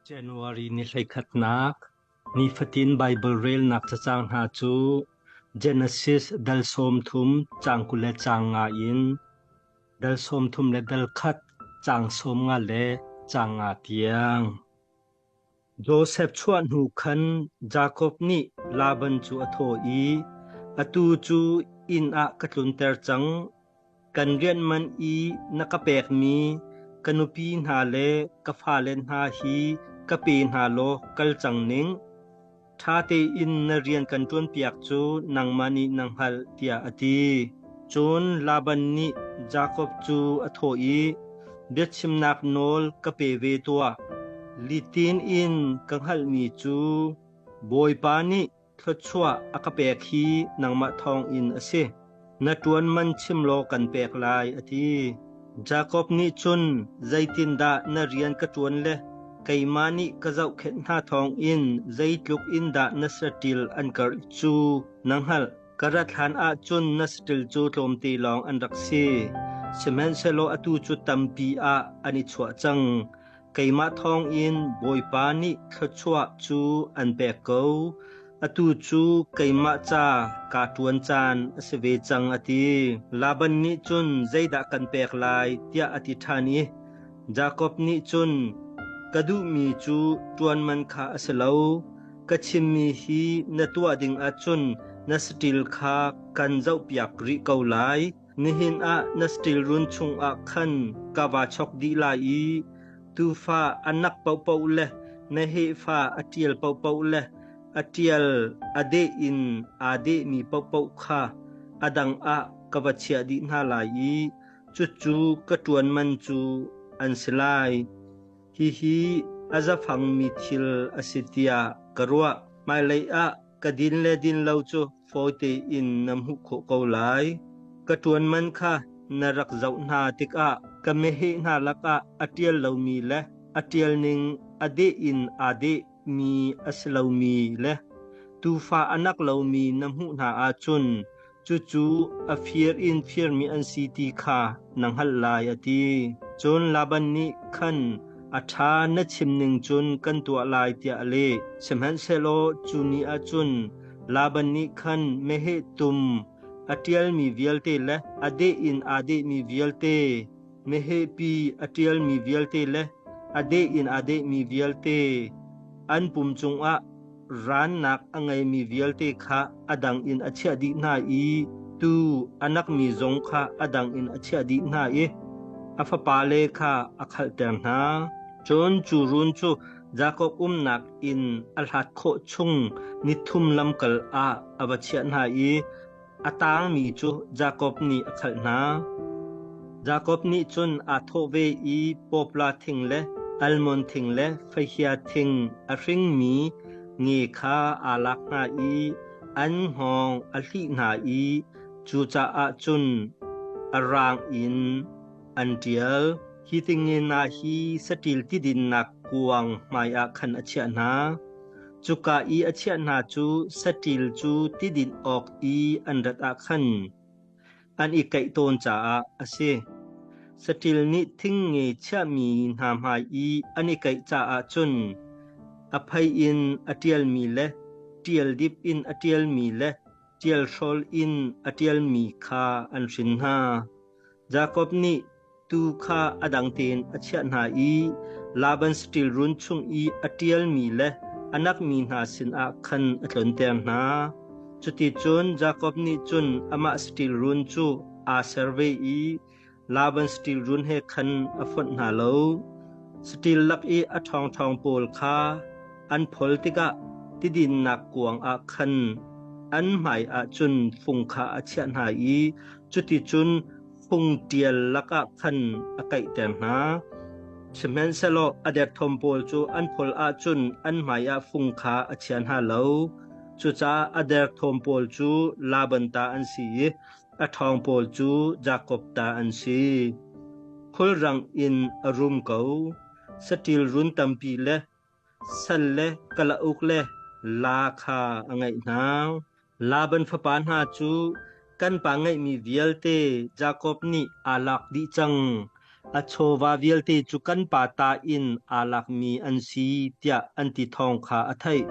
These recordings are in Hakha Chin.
January ni hleikhatnak Nifatin Baibal relnak cacang hna cu Genesis dal sawm thum caang kul le caang nga in dal sawm thum le dal khat caang sawm nga le caang nga tiang. Josef chuah hnu khan Jakob nih Laban cu a thaw i, “Atu cu inn ah ka tlunter cang. Kan rian man i na ka pekmi ka nupi hna le ka fale hna hi ka pe hna law kal cang ning. Ṭha tein na rian kan ṭuanpiak cu nangmah nih na hngalh, tiah a ti. Cun Laban nih Jakob cu a thawh i, Biachimnak nawl ka pe ve tuah. Litin in ka hngalhmi cu Bawipa nih thluachuah a ka pek hi nangmah thawngin a si. Na ṭuan man chim law kan pek lai, a ti. Jakob nih cun, Zeitindah na rian ka ṭuan le keimah nih ka zohkhenh hna thawng in zeitluk in dah na saṭil an karh cu na hngalh. Ka rat hlanah cun na saṭil cu tlawmte lawng an rak si; sihmanhsehlaw atu cu tampi ah an i chuah cang. Keimah thawngin Bawipa nih thluachuah cu an pek ko; atu cu keimah ca kaa ṭuan caan a si ve cang, a ti. Laban nih cun, “Zeidah kan pek lai?” tiah a ti ṭhan i Jakob nih cun, “Ka duhmi cu ṭuanman kha a si lo; ka chimmi hi na tuah dingah cun na saṭil kha kan zohpiak rih ko lai. Nihin ah na steel run chungah khan ka vaa chawk dih lai i tuufa a nak paohpaoh le na hehfa a ṭial paohpaoh le a ṭial a deh in aa dehmi paohpaoh kha a dang ah ka va chiah dih hna lai i cucu ka ṭuan man cu an si lai. Hihi a zafangmi thil a si tiah ka ruah. Hmailei ah ka din le din lo cu fawite in na hmuh khawh ko lai. Ka ṭuan man kha na rak zoh hna tikah ka meheh hna lakah a ṭial lomi le a ṭial ning a deh in aa deh mi a si lomi le tuufa a nak lomi na hmuh hna ahcun Cucu a fir in firmi an si ti kha na hngalh lai, a ti. Cun Laban nih khan a ṭha na chim ning cun kan tuah lai tiah a leh. Sihmanhsehlaw cu ni ah cun Laban nih khan meheh tum a ṭialmi vialte le a deh in aa dehmi vialte, mehehpi a ṭialmi vialte le a deh in aa dehmi vialte an pum cungah Rannak a ngeimi vialte kha a dang in a chiah dih hna i tuu a nakmi zong kha a dang in a chiah dih hna i a fapale kha a khalhter hna. Cun cu run cu Jakob umnak inn a hlat khawh chung nithum lamkal ah a va chiah hna i A tangmi cu Jakob nih a khalh hna. Jakob nih cun aa thawh ve i Popla thing le almon thing le faihia thing a hringmi nge kha aa lak hna i an hngawng a hlih hna i cucaah cun a raang in an ṭial. Hi tingenah hi saṭil tidinnak kuang hmaiah khan a chiah hna. Cuka i a chiah hna cu saṭil cu tidinh awk i an rat ah khan an i kaih tawn caah a si. Saṭil nih thing nge chiahmi hna hmai i an i kaih caah cun a phei in a ṭialmi le ṭial dip in a ṭialmi le ṭial hrawl in a ṭialmi kha an hrin hna. Jakob nih Tuu kha a dang tein a chiah hna i Laban saṭil run chung i a ṭialmi le a nakmi hna sinah khan a tlunter hna. Cuticun Jakob nih cun amah saṭil run cu aa ser ve i Laban saṭil run he khan a fonh hna lo. Saṭil lak i a ṭhawngṭhawng pawl kha an phol tikah tidinnak kuangah khan an hmaiah cun fung kha a chiah hna i cuticun phung ṭial lakah khan a kaihter hna. Sihmanhsehlaw a derthawm pawl cu an phol ahcun an hmaiah fung kha a chian hna lo. Cucaah a derthawm pawl cu Laban ta an si i a ṭhawng pawl cu Jakob ta an si. Khulrang in a rum ko. Saṭil run tampi le Salle Kalauk le La kha a ngaih hna. Laban fapa hna cu kan pa ngeihmi vialte Jakob nih aa lak dih cang. A chawva vialte cu kan pa ta in aa lakmi an si tiah an ti thawng kha a theih.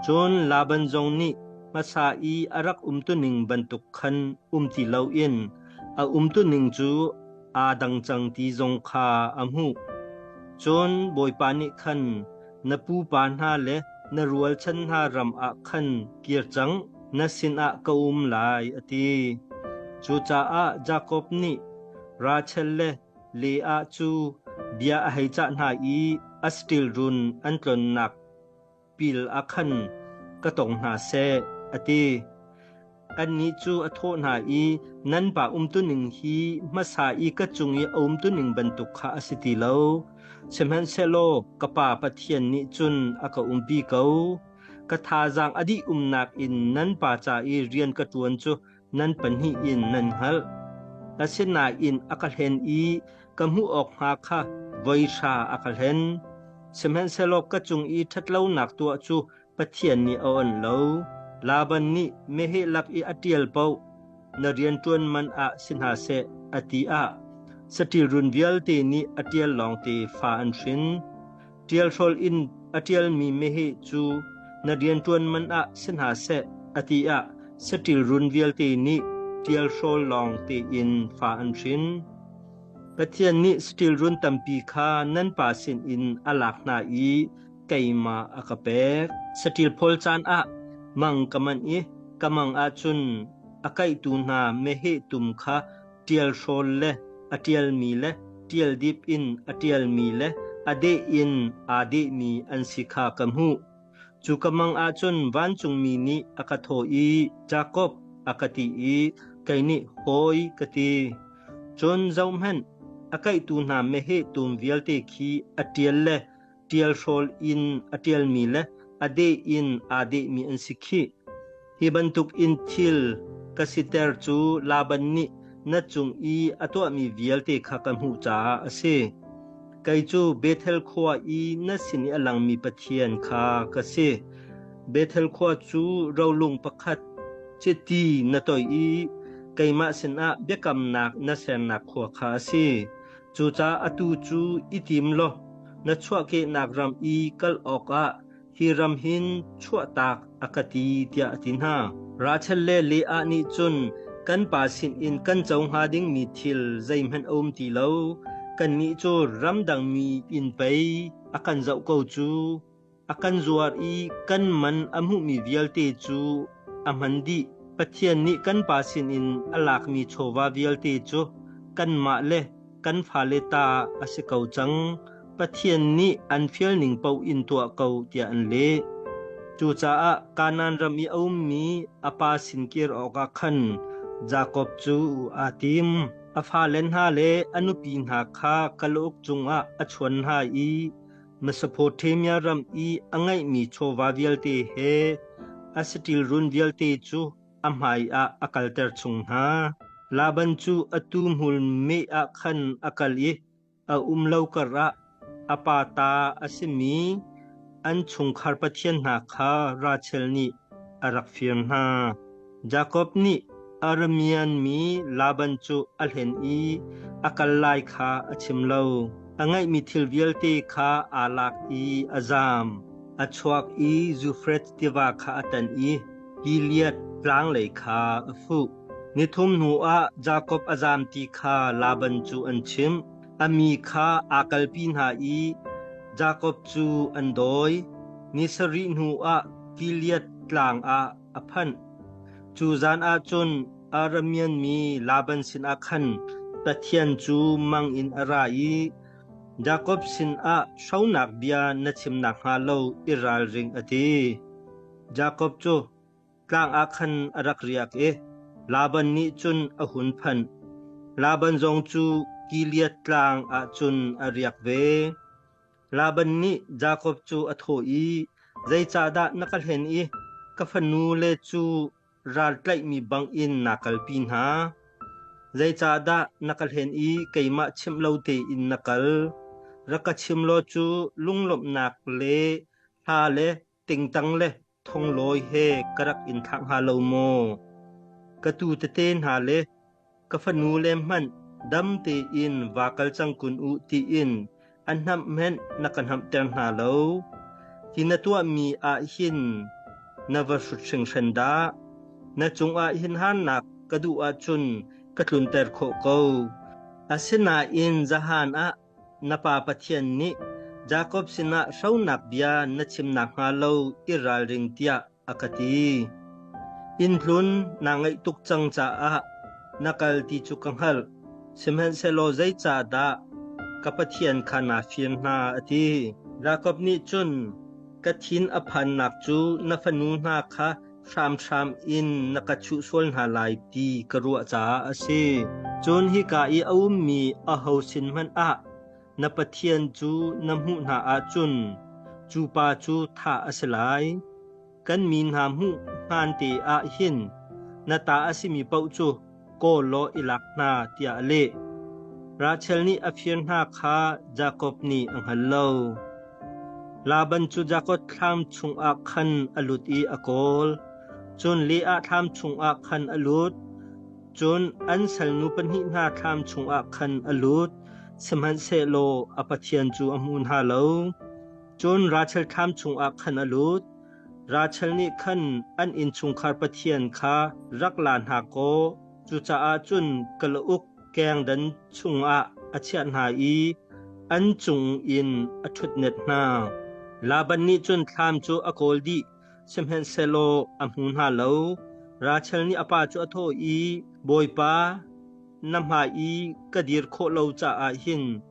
Cun Laban zong nih hmasa i a rak umtuning bantuk khan um ti loin a umtuning cu aa dang cang ti zong kha a hmuh. Cun Bawipa nih khan na pupa hna le na rualchan hna ram ah khan kir cang, na sinah ka um lai, a ti. Cucaah Jakob nih Rachel le Leah cu bia a hei cah hna i a saṭil run an tlonnak pil ah khan ka tong hna seh, a ti. Annih cu a thawh hna i, Nan pa umtuning hi hmasa i ka cung i a umtuning bantuk kha a si ti lo. Sihmanhsehlaw ka Pa Pathian nih cun a ka umpi ko. Ka thazaang a dih umnak in nan pa ca i rian ka ṭuan cu nan pahnih in nan hngalh. Asinain a ka hlen i ka hmuh awk hnga kha voi hra a ka hlen. Sihmanhsehlaw ka cung i ṭhatlonak tuah cu Pathian nih a oan lo. Laban nih meheh lak i a ṭial paoh na rian ṭuan man ah si hna seh, a ti ah saṭil run vialte nih a ṭial lawngte fa an hrin. Ṭialhrol in a ṭialmi meheh cu na rianṭuan man ah si hna seh, a ti ah saṭil run vialte nih ṭialhrawl lawng tein fa an hrin. Pathian nih saṭil run tampi kha nan Pa sinin a lak hna i keimah a ka pek. Saṭil phawl caan ah mang ka manh i ka mang ahcun a kaihtu hna meheh tum kha ṭial hrawl le a ṭialmi le ṭial dip in a ṭialmi le a deh in aa dehmi an si kha ka hmuh. Cu ka mang ahcun vancungmi nih a ka thawh i, Jakob, a ka ti i, kei nih hawi ka ti. Cun zohhmanh, a kaihtu hna meheh tum vialte khi a ṭial le ṭialhrawl in a ṭialmi le a deh in aa dehmi an si khih. Hi bantukin thil ka siter cu Laban nih na cung i a tuahmi vialte kha ka hmuh caah a si. Kei cu Bethel khua i na sin i a langmi Pathian kha ka si. Bethel khua cu rolung pakhat chiti na toih i keimah sinah biakamnak na sernak khua kha a si. Cucaah atu cu i tim law na chuahkehnak ram i kal awkah hi ram hin chuahtak a ka ti, tiah a ti hna. Rachel le Leah nih cun, Kan pa sinin kan co hnga dingmi thil zeihmanh a um ti lo. Kannih cu ramdangmi in pei a kan zoh ko cu. A kan zuar i kan man a hmuhmi vialte cu a hman dih. Pathian nih kan Pa sinin a lakmi chawva vialte cu kanmah le kan fale ta a si ko cang. Pathian nih an fial ning paoh in tuah ko tiah an leh. Cucaah Kanaan ram i a ummi a pa sin kir awkah khan Jakob cu aa tim. A fale hna le a nupi hna kha kalauk cungah a chuan hna i Mesopotamia ram i a ngeihmi chawva vialte he Asitil run vialte cu a hmaiah a kalter chung hna. Laban cu atu hmul meh ah khan a kal i a um lo karah a pa ta a simi an chungkhar pathian hna kha Rachel nih a rak fir hna. Jakob nih Aramean mi Laban cu a hlen i a kal lai kha a chim lo. A ngeihmi thil vialte kha aa lak i a zaam. A chuak i Zufreth tiva kha a tan i Gilead tlang lei kha a fuh. Ni thum hnuah Jakob a zaam ti kha Laban cu an chimh. A mi kha aa kalpi hna i Jakob cu an dawi. Ni sarih hnuah Gilead tlang ah a phanh. Cu zan ah cun Aramean mi Laban sinah khan Pathian cu mang in a ra i Jakob sinah hronak bia na chim nakhnga lo i ralring, a ti. Jakob cu tlang ah khan a rak riak i Laban nih cun a hun phanh. Laban zong cu Gilead tlang ah cun a riak ve. Laban nih Jakob cu a thawh i, “Zeicahdah na ka hlen i ka fanu le cu raltlaihmi bangin naa kalpi hna? Zeicahdah na ka hlen i keimah chimh lo tein na kal? Rak ka chim law cu lunglawmhnak le hla le Tingtang le thonglawi he ka rak in thlah hnga lo maw? Ka tu tete hna le ka fanu le hmanh dam tein va kal cang kun u tiin an hnamh hmenh na ka hnamhter hna lo. Ti na tuahmi ah hin na va hrut hringhran dah. Na cungah hin hannak ka duh ahcun ka tlunter khawh ko. Asinain zahan ah Na Pa Pathian nih Jakob sinah hronak bia na chim nakhnga lo i ralring tiah a ka ti. Innhlun naa ngeih tuk cang caah na kal ti cu ka hngalh, sihmanhsehlaw zeicah dah ka Pathian kha naa fir hna, a ti. Jakob nih cun, Ka thin a phannak cu na fanu hna kha hramhram in na ka chuh sual hna lai ti ka ruah caah a si. Cun hika i a ummi aho sin hmanh ah na Pathian cu na hmuh hna ahcun cu pa cu thah a si lai. Kan mi hna hmuh hmaan te ah hin na ta a simi paoh cu kawl law i lak hna tiah a leh. Rachel nih a fir hna kha Jakob nih a hngal lo. Laban cu Jakob thlam chungah khan a lut i a kawl. Cun Leah thlam chungah khan a lut. Cun an salnu pahnih hna thlam chungah khan a lut, sihmanhsehlaw a pathian cu a hmu hna lo. Cun Rachel thlam chungah khan a lut. Rachel nih khan an innchungkhar pathian kha rak la hna kaw cucaah cun kalauk kengdan chungah a chiah hna i an cung in a ṭhutnet hna. Laban nih cun thlam cu a kawl dih, sihmanhsehlaw a hmu hna lo. Rachel nih a pa cu a thawh i, “Bawipa, na hmai i ka dir khawh lo caah hin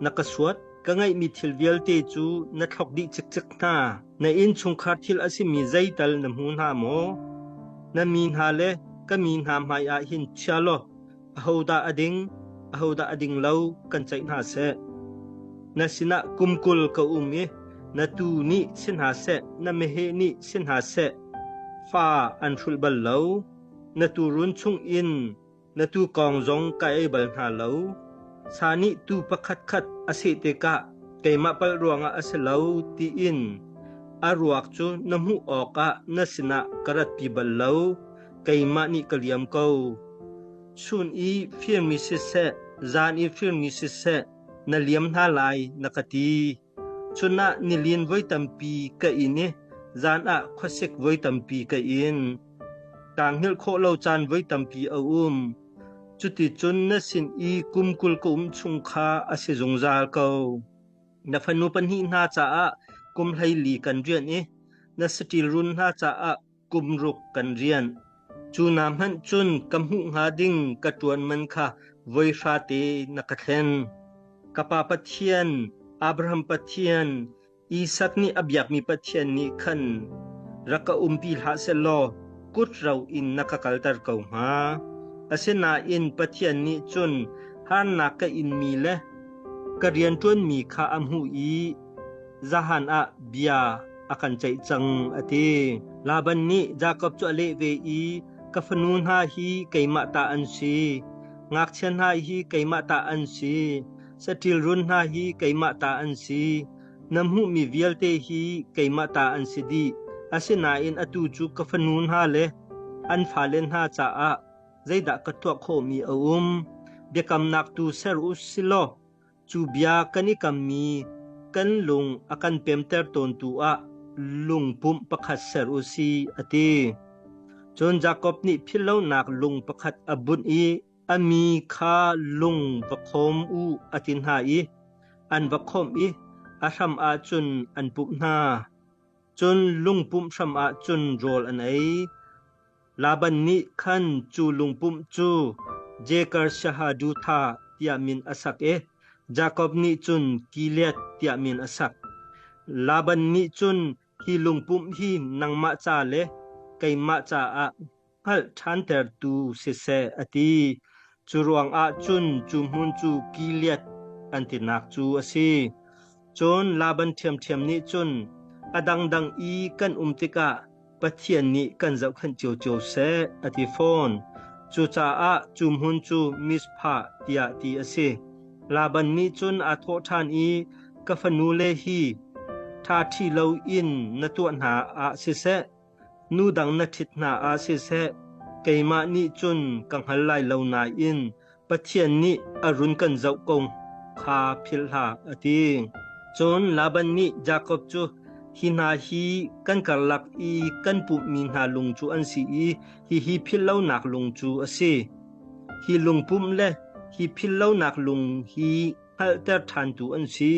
Na ka suat. Ka ngeihmi thil vialte cu na thlok dih cikcek hna. Na innchungkhar thil a simi zeital na hmu hna maw? Na mi hna le ka mi hna hmaiah hin chia law ahodah a ding, ahodah a ding lo kan ceih hna seh. Na sinah kum kul ka um i na tuu nih si hna seh, na meheh nih si hna seh, fa an hrulh bal lo. Na tuurun chung in Na tu kong zong ka ei bal hna lo. Sa nih tuu pakhatkhat a seh tikah keimah palh ruangah a si lo tiin a ruak cu na hmuh awkah na sinah ka ratpi bal lo. Keimah nih ka liam ko. Chun i firmi siseh, zan i firmi siseh, na liam hna lai, na ka ti. Chunah nilin voi tampi ka in i zan ah khuasik voi tampi ka in. Kaa hngilh khawh lo caan voi tampi a um. Cuticun na sin i kum kul ka um chung kha a si zungzal ko. Na fanu pahnih hna caah kum hleili kan rianh i na saṭil run hna caah kum ruk kan rianh. Cu na hmanh cun ka hmuh hnga ding ka ṭuan man kha voi hra te na ka thlen. Ka pa Pathian, Abraham Pathian, Isak nih a biakmi Pathian nih khan rak ka umpi hlah seh law kut ro in na ka kalter ko hnga. Asinain Pathian nih cun harnak ka inmi le ka rianṭuanmi kha a hmuh i Zahan ah bia a kan ceih cang, a ti. Laban nih Jakob cu a leh ve i, Ka fanu hna hi keimah ta an si. Ngakchia hna hi keimah ta an si. Saṭil run hna hi keimah ta an si. Na hmuhmi vialte hi keimah ta an si dih. Asinain atu cu ka fanu hna le an fale hna caah zeidah ka tuah khawhmi a um? Biakamnak tu ser u silaw Cu bia kan i kammi kan lung a kan pemter tawntu ah lungpumh pakhat ser u si, a ti. Cun Jakob nih philhlonak lung pakhat a bunh i a mi kha lung va khawm u a ti hna i an va khawmh i a hram ah cun an pumh hna. Cun lungpumh hram ah cun rawl an ei. Laban nih khan cu lungpumh cu Jeker Shahadutha tiah min a sak i Jakob nih cun Gilead tiah min a sak. Laban nih cun hi lungpumh hi nangmah ca le keimah caah hngalh ṭhantertu siseh a ti. Curuangah cun cu hmun cu Gilead an tinak cu a si. Cun Laban ṭhiamṭhiam nih cun, A dangdang i kan um tikah Pathian nih kan zohkhenh cio seh, a ti fawn. Cucaah cu hmun cu Mizpah tiah ti a si. Laban nih cun aa thawh ṭhan i, Ka fanu le hi ṭha ṭhi loin na tuah hna ah siseh, Nu dang na ṭhit hna ah siseh, keimah nih cun ka hngal lai lo nain Pathian nih a run kan zoh ko kha philh hlah, a ti. Cun Laban nih Jakob cu, Hi hna hi kan karlak i kan pumhmi hna lung cu an si i hihi philh lonak lung cu a si. Hi lungpumh le hi philh lonak lung hi hngalhter ṭhantu an si.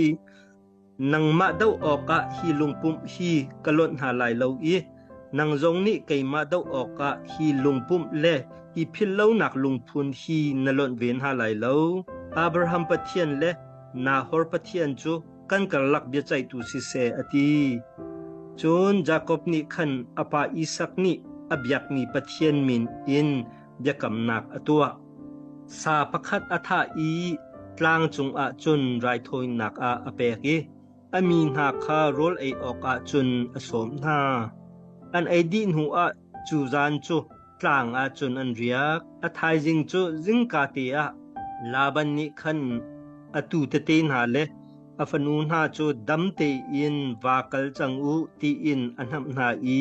Nangmah doh awkah hi lungpumh hi ka lonh hna lai lo i nang zong nih keimah doh awkah hi lungpumh le i philh lonak lungphun hi na lonh ve hna lai lo. Abraham Pathian le Nahor Pathian cu kan karlak biaceihtu siseh a ti. Cun Jakob nih khan a pa Isak nih a biakmi Pathian min in biakamnak a tuah. Sa pakhat a thah i tlang cungah cun raithawinak ah a pek i a mi hna kha rawl ei awkah cun a sawm hna. An ei dih hnuah cu zan cu tlang ah cun an riak. A thaizing cu zingka te ah Laban nih khan atu tete hna le a fanu hna cu dam tein va kal cang u tiin a hnamh hna i